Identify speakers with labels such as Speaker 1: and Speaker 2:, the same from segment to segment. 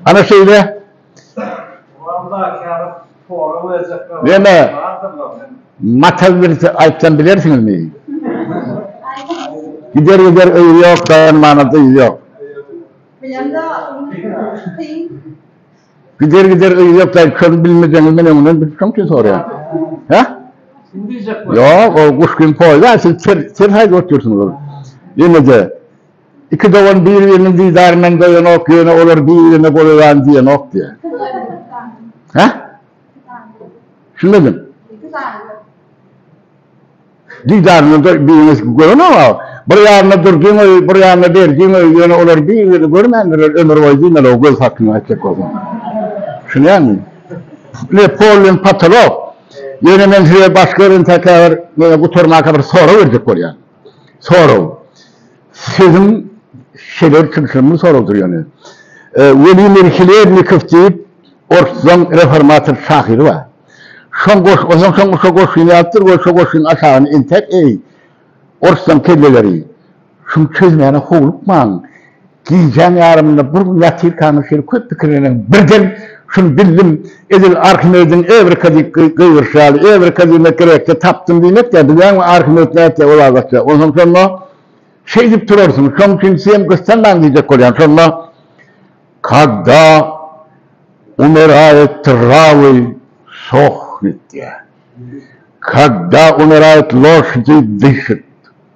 Speaker 1: Ana şeýle. Ýöne matal birisi aýtsam bilersiňizmi? Gider gider öýi ýok, daýanmana dyzy ýok. Gider gider öýi ýok daýy köni bilmeseňiz men öňünden bilip şoň üçin soraýan. Hä? Ýok, ol guş kimin poýuz, siz ter ter haýda oturýarsyňyz ol. Ýene-de. Iki dogan bir-biriniň didaryndan doýanok, ýöne olar bir-birine golaýan diýenok diýýär. Hä? Düşünmedim. Didaryndan bir-biriniň görenok, a bir ýanyna Durdyň öýi, bir ýanyna Berdiň öýi, ýöne olar bir-birini görmändirler ömürboýy diýmeli-ow göz hakyňy aýtjak bolsaň. Düşünýäňmi? Ine, pol bilen potolok. Ýöne men size başga bir ýerden täkäbir, ýöne gutarmaka bir sorag berjek bolýan. Sorag. Siziň şeýle kimsiňiz soragdyr ýöne. Welimir Hlebnikow diýip orslan reformator şahyry bar. Şoň goş, ondan soň şo goşgyny ýazypdyr we şo goşgynyň aşagyny entek eý, orslan kelleleri, şuny çözmäne howlukmaň. Gijäň ýarymynda bir gün ýatyrkaňyz şeýle köp pikirleneňiz, birden şuny bildim, edil Arhimediň Ewrika diýip gygyryşy ýaly, Ewrika diýmek grekçe tapdym diýmek ýa, bilýäňmi, Arhimed nätjek ol adatça, onsoň şonda şeýdip turarsyňyz, şoň üçin siz hem daň diýjek bolýan, şonda Kada umirayet travy sohnit diýýär. Kada umirayet loşdi dyşit.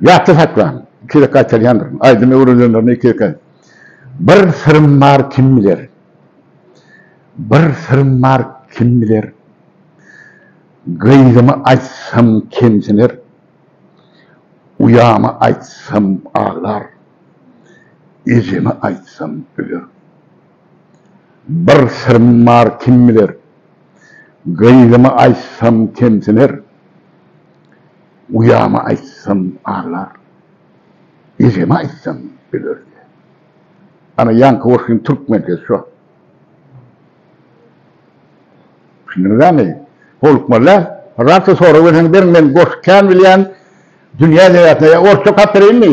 Speaker 1: Ýatda saklan, iki gezek gaýtarýandyryn, aýdymy öwrenenlerine iki gezek aýt. Bir syrym bar, kim biler? Bir syrym bar, kim biler? Gyzymy aýtsam kemsiner, uýamy aýtsam aglar, ejemi aýtsam öler. Bir syrym bar, kim biler? Gyzymy aýtsam kemsiner. Uýama aýtsam aglar. Ejeme aýtsam bilerdi. Ana ýaňky goşgyň türkmen ses şo. Düşündiňizämi? Howlukmazda rat sorag berseňiz beriň men goşgy kän bilýän dünýä edebiýatyna ýa orsça okap bereýinmi?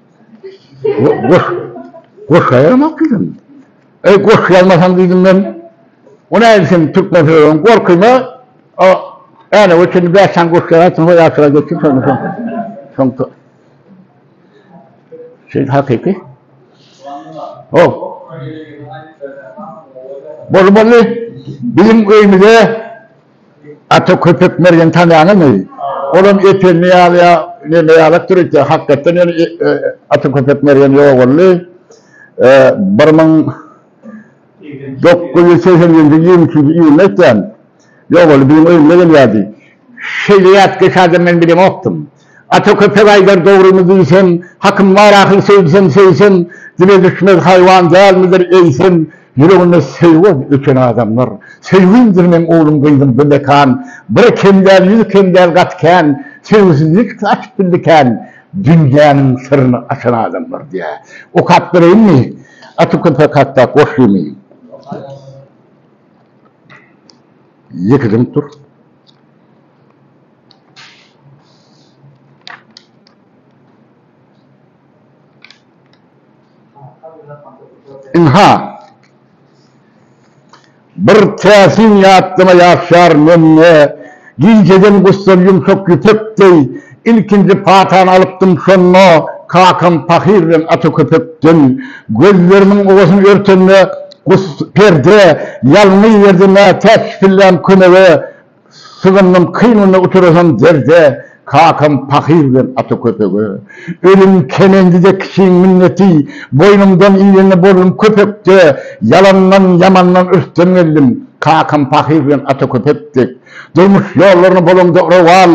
Speaker 1: Goş, goş ýazmak diýdim. Eý, goş ýazmasaň diýdim men. O nädip sen türkmen sözüň gorkyna o äne we çenli bäş sany goş ýazarsyň we ýaşyra geçip şondan soň. Soň to. Sen hakyky. O. Bolmaly. Bilim öýmüze Ata köpek Mergeni tanýaňyzmy? Olam Ependi ýaly ýa neme ýalak döretýär. Hakykatdan hem Ata köpek Mergen ýogaldy. Bir müň dokuz ýüz segsen ýedinji ýylyň ýigrimi üçünji iýunynda aýtýan. Ýogaldy, biziň öýümize gelýärdi. Şeýle ýatkeş adam men bilemokdym. Ata köpek aýdar dogrymy diýsem, Hakym bar ahyl söýsem söýsem, Dile düşmez haýwan dälmidir eýsem, Ýüreginde söýgüň öçen adamlar. Söýgimdir meň oglum gyzym bu mekan, Bir kem däl ýüz kem däl gaty kän, Söýgüsizlik saçyp bildi kän, Dünýäniň syryny açan adamlar diýä. Okap bereýinmi Ata köpek hakda goşgymy? Ýeke dymyp dur. Ynha, bir täsin ýatlama ýaşýar mende. Gijeden gussam ýumşak ýüpek deý, Ilkinji patany alypdym şonda, Kakam pahyr bilen ata köpekden. Gözlerimiň owasyny örtende, Guss perde ýalňy ýerde nätäç pillän kömege sygyndym kyn günde uturasam derde kakam pahyr bilen ata köpege ölüm kemendide kiçiň minneti boýnumdan iýende boldum köpekde ýalandan ýamandan ürsden geldim kakam pahyr bilen ata köpek dek durmuş ýollaryny bolaňda urawal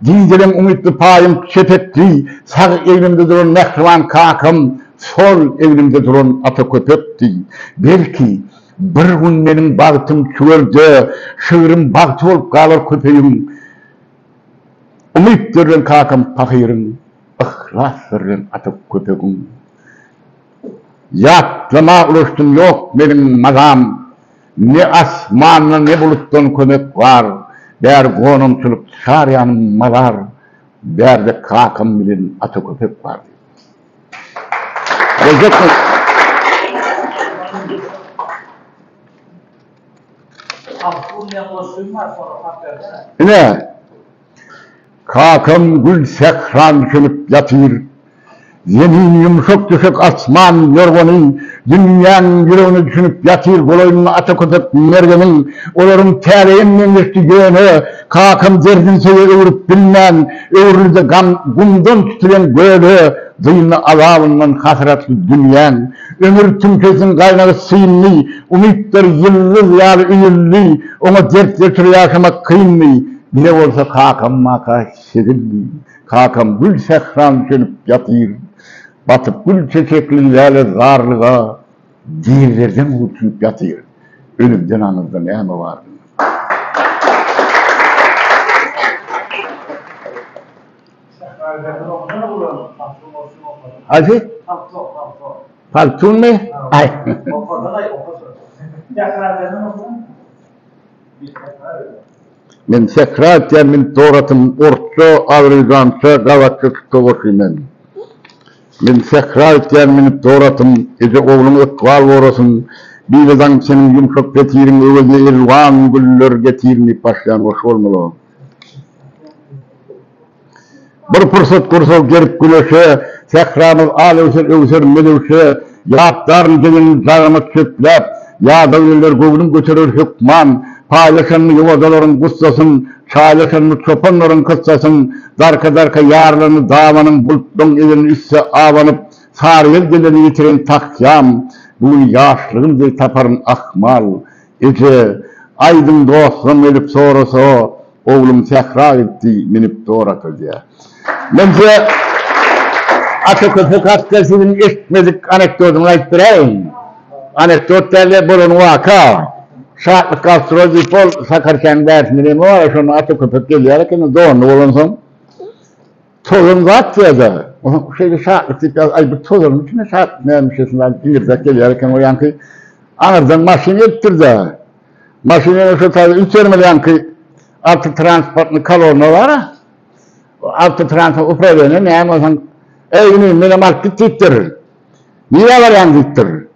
Speaker 1: gijeleň umytly paýym çepekli sag eglimde duran mähriban kakam Sol egnimde duran ata köpekdi. Belki, bir gün meniň bagtym tüwer-de, şygrym bagty bolup galar köpegiň Umytdyr bilen kakam pahyryň, Yhlasdyr bilen ata köpegiň. Ýatlama ulaşdym, ýok meniň mazam, Ne asmandan, ne bulutdan kömek bar, Bäri gonamçylyk, çar ýanym mazar, Bärde kakam bilen ata köpek bar. Ine, kakam gül sähran çümüp ýatyr. Zemin ýumşak düşek asman ýorgany dünýäň ýüregine düşünip ýatyr. Golaýynda ata köpek Mergeniň olaryň täleýem meňzeşdi, ýöne. Kakam derdini söýe öwrüp bilmän, öwrüldi gam gumdan tutulen göle, Dyndy azabyndan hasratly dünýäň. Ömür tümkesiniň gaýnagy syndy, umytlar ýyldyz ýaly üýüldi, Oňa dert getirip ýaşamak kyndy, bire bolsa kakam-maka çezildi. Kakam gül sähran çönüp ýatyr, batyp gül çeçekli läle zarlyga, Dizlerden hüwtüp ýatyr. Ölümden aňyrda näme bar? Haýsy? Paltunymy? Men sähra aýtýan, men tor atym, orsça, azerbýjança, gazakça, çuka goşgy men. Men sähra itýän minip dor atym, Eje ogluň ykbal gorasyn. Bile daň çenim ýumşak petiriň, Öwezine elwan güller getirin diýip başlaýan goşgy bolmaly o. Bir pursat gursagy gerip güneşe, Sähramyz al öwser, öwser melewşe. Ýatlaryn diňin dagyma çöpläp, Ýadaw ýeller göwnüm göterer hökman. Paýlaşanmy ýowazalaryň gussasyn, Çaýlaşanmy çopanlaryň kyssasyn? Darka-darka ýarlandy dabanyň, Bultlaň egin üste abanyp, Sary ýel gelende ýitiren takýam. Bu gün ýaşlygym deý taparyn ahmal. Eje, Aýdyň dostlam gelip sorasa, oglum sähra gitdi, minip dorakl diýär. Menje Ata köpek hakda siziň eşitmedik anekdotyňyzy aýdyp beräýiň. Anekdot däl-de, bolan waka. Şatlyk gastrol diýip ol Sakarkanyň bärsinde neme bar, şonda Ata köpek gelýär ekeni, donly bolansoň. Tozan zat ýa-da, şeýle şatlyk diýip ýaz, aý, bu tozanyň içinde şatlyk näme şeýle diňirdek gelýär eken, o ýaňky aňyrdan maşyn gelipdir-dä. Maşyn ýene şol taýda üýtgermeli ýaňky awtotransportnyň kaloryna bar-a. Awtotranspo uprawenýe näme bolsaň, Eý, inim, menem alyp git diýipdir. Nirä barýaň diýipdir.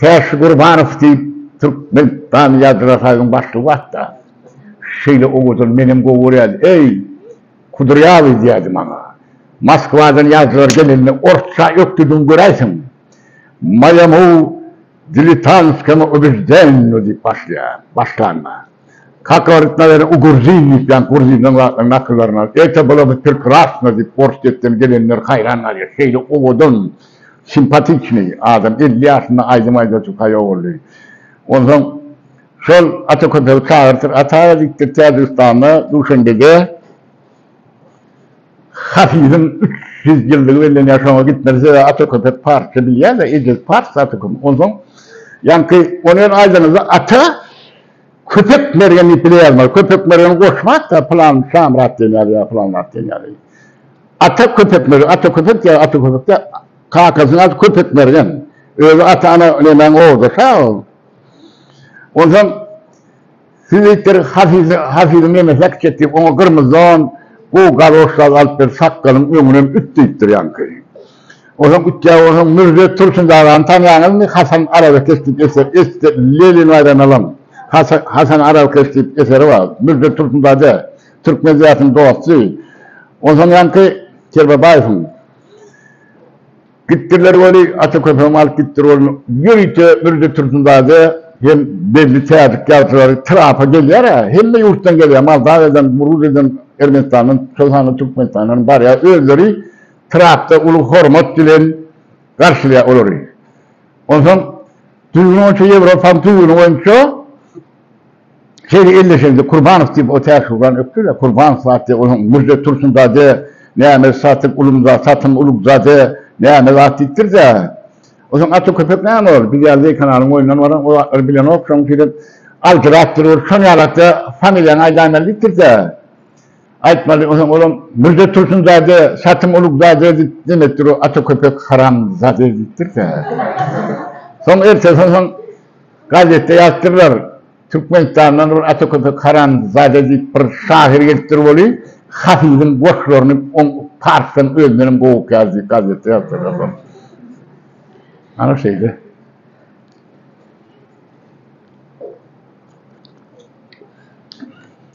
Speaker 1: Täşli Gurbanow diýip, türkmen dany ýazyjylar saýynyň başlygy batda şeýle owadan menem gowy görýädim, Eý, kudrýawyý diýýärdi maňa. Moskwadan ýazyjylar gelende orsça ökdüdigiňi göräýseň, Moýamu dilitantskemu ubizdennu diýip başlaýar. Başlanda. Kaka öwretme beren u gurzin diýip ýaňky gurzinleň zatlaryny nakyllaryny alyp erte bula by pirkrasno diýip ors depden gelenler haýran galýar şeýle owadan simpatiçnyý adam elli ýaşynda aýdym aýdajy paýa boldy onsoň şol ata köpegi çagyrtyr ata diýipdir täjigistanda duşenbede. Hafiziň üç ýüz ýyllygy bellenýär, şoňa gitmeli. Sebäbi ata köpek parsça bilýär-de, ejesi pars, ata köpek. Onsoň, ýaňky ony ýöne aýdaňyzda ata köpek mergen diýip bile ýazmaly. Köpek mergen goşma atda pylan Şamyrat diýen ýaly ýa pylan at diýen ýaly. Ata köpek mergen, ata köpek ýa ata köpek däl. Kakasynyň ady köpek mergen. Özi ata-ana nemäň ogludyr-ha ol. Onsoň, Siz diýipdir, Hafizi, Hafiziň ýene seks etdi, oňa gyrmyzy don, gowy galoş zat alyp ber, sakgalyň öňünem üt diýipdir ýaňky. Onsoň ütýä, onsoň Mürze Tursun agany tanýaňyzmy, Hasan arabakeş diýip eser, esde, Lenin aýran alan, Hasa, Hasan arabakeş diýip eseri bar, Mürze Tursun daýza, türkmen zähetiň dosty. Onsoň ýaňky Kerbabaýewiň. Gitdirler weli, ata köpegimi alyp gitdir weli. Ýörite Mürze Tursundade hem belli täjik ýazgylary trapa gelýär-ä. Hemme ýurtdan gelýär, Moldawiýadan, Gruziýadan, Ermenistandan, şol sanda Türkmenistandanam barýar. Özleri trapda uly hormat bilen garşylaýar olary. Onsoň düzgün boýunça, Ýewropanyň düzgüni boýunça, Şeýle elleşende Kurbanow diýip o täşli urany ökdü-de, Kurbanow zat diýip onuň Mürze Tursunzade, näme Satyk Ulumza, Satym Ulugzade, näme zat diýipdir-de, Onuň aty köpek näme ol, biz ýaly zeýkanalyň boýundan baran o zatlary bilenok, şonuň üçinem aljyrap durur, şonuň ýalakda familiýaňy aýdaýmaly diýipdir-de, aýtmaly, onsoň olam Mürze Tursunzade, Satym Ulugzade diýip demekdir o aty köpek haramzade diýipdir-de. Soň ertesi onsoň Gazetde ýazdyrlar, Türkmenistandan bir Ataköpek Haramzade diýip bir şahyr gelipdir weli, Hafiziň goşlaryny oň parsdan özündenem gowy okýar diýip gazetde ýazdyrlar soň. Ana şeýle.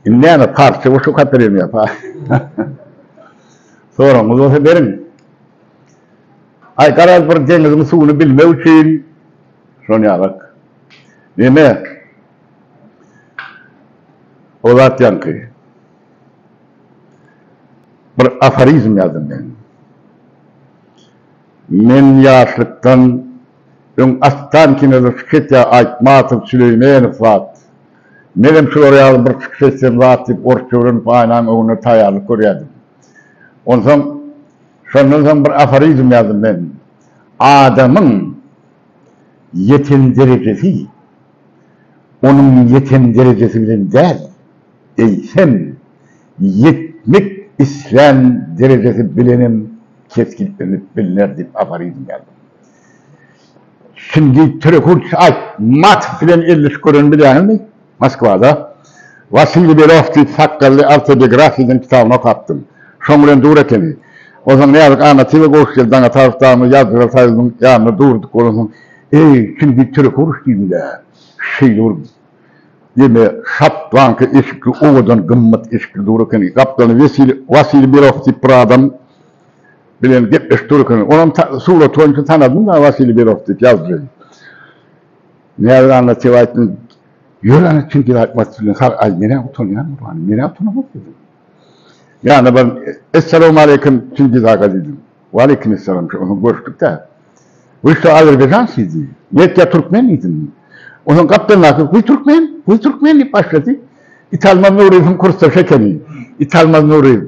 Speaker 1: Indi näme, parsça goşgy okap berýärmi ýa-ha? Soragyňyz bolsa beriň. Aý, garaz bir deňiziň suwuny bilmek üçin, Şony ýazak. Neme? O zat ýaňky. Bir aforizm ýazdym men. Men ýaşlykdan öň Astan kinoda çykyş etýär Aýtmatow, Süleýmenow zat. Menem şular ýaly bir çykyş etsem zat diýip orsça öwrenip aýnaň öňünde taýýarlyk görýärdim. Onsoň şondan soň bir aforizm ýazdym men. Adamyň. ýeten derejesi onuň ýeten derejesi bilen däl, eýsem, ýetmek islän derejesi bilenem kesgitlenip bilner diýip aforizm ýazdy. Şindi Törekurt Aýtmatow bilen elleşip görenini bilýäňizmi? Moskwada Wasiliý Below diýip sakgally awtobiografiýa diýen kitabyny okapdym. Şoň bilen dur ekeni. Onsoň Näzik Annatyýewa goş geldi Daňataryp dagynda ýazgylar saýylynyň ýanynda durduk. Onsoň Eý, çingi türek uruş diýdim-dä. Şeýle bir ýene şabbaňky eşikli owadan gymmat eşikli dur ekeni. Gapdalynda Wesiliý Wasiliý Below diýip bir adam bilen gepleşip dur ekeni. Onam ta surat boýunça tanadym-da Wasiliý Below diýip ýazdyryn. Näzik anna tebä aýtdym. Ýör ana kim bir aýtmaz sizden sag aý menä utanýan gurbany menä utanamok diýdim. Ýanyna bar Essalawmaleýkim Çingiz aga diýdim. Waleýkim essalam şu onsoň görüşdik dä. Wy şu Azerbaýjan sizi netkä türkmen diýdim. Onsoň gapdan gaty wy türkmen wy türkmen diýip başlady. Italmaz Nuryýewiň kursdaşy ekeni. Italmaz Nuryýew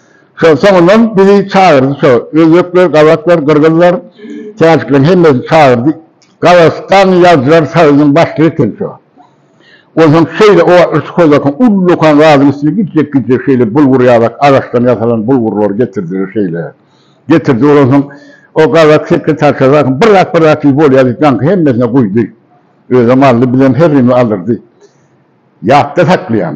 Speaker 1: Şol soňundan bizi çagyrdy şo. Özbekler, gazaklar, gyrgyzlar, täjikleriň hemmesini çagyrdy. Gazagystanyň ýazyjylar soýuzynyň başlygy eken şo. Onsoň şeýle o wagtlar şu kozakyň uly dokan zadyň üstüne gijjek-gijjek şeýle bulgur ýazak agaçdan ýasalan bulgurlary getirdiler şeýle. Getirdi ol onsoň o gazak sekretarşa zakyň bir zat bir zat diýip bolýa diýip ýaňky hemmesine guýdy. Özem aldy bizem herrimiz aldyrdy. Ýatda saklaýan.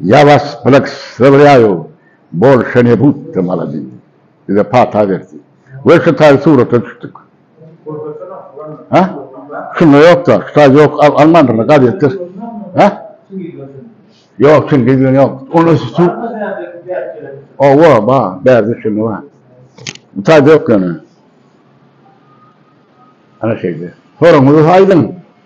Speaker 1: Ya was blagslavlýaýu, bolşa ne budda maladi, bize pata berdi we şu taýy surata düşdik. Ha? Şunda ýokda, şu taýy ýok, almandyrlar gazetde. Ha? Ýok, çingiz bilen ýok. Onda şu su. Owa, ba, bärde şunda bar. Bu taýda ýok ýöne. Ana şeýle. Soragyňyzy aýdyň.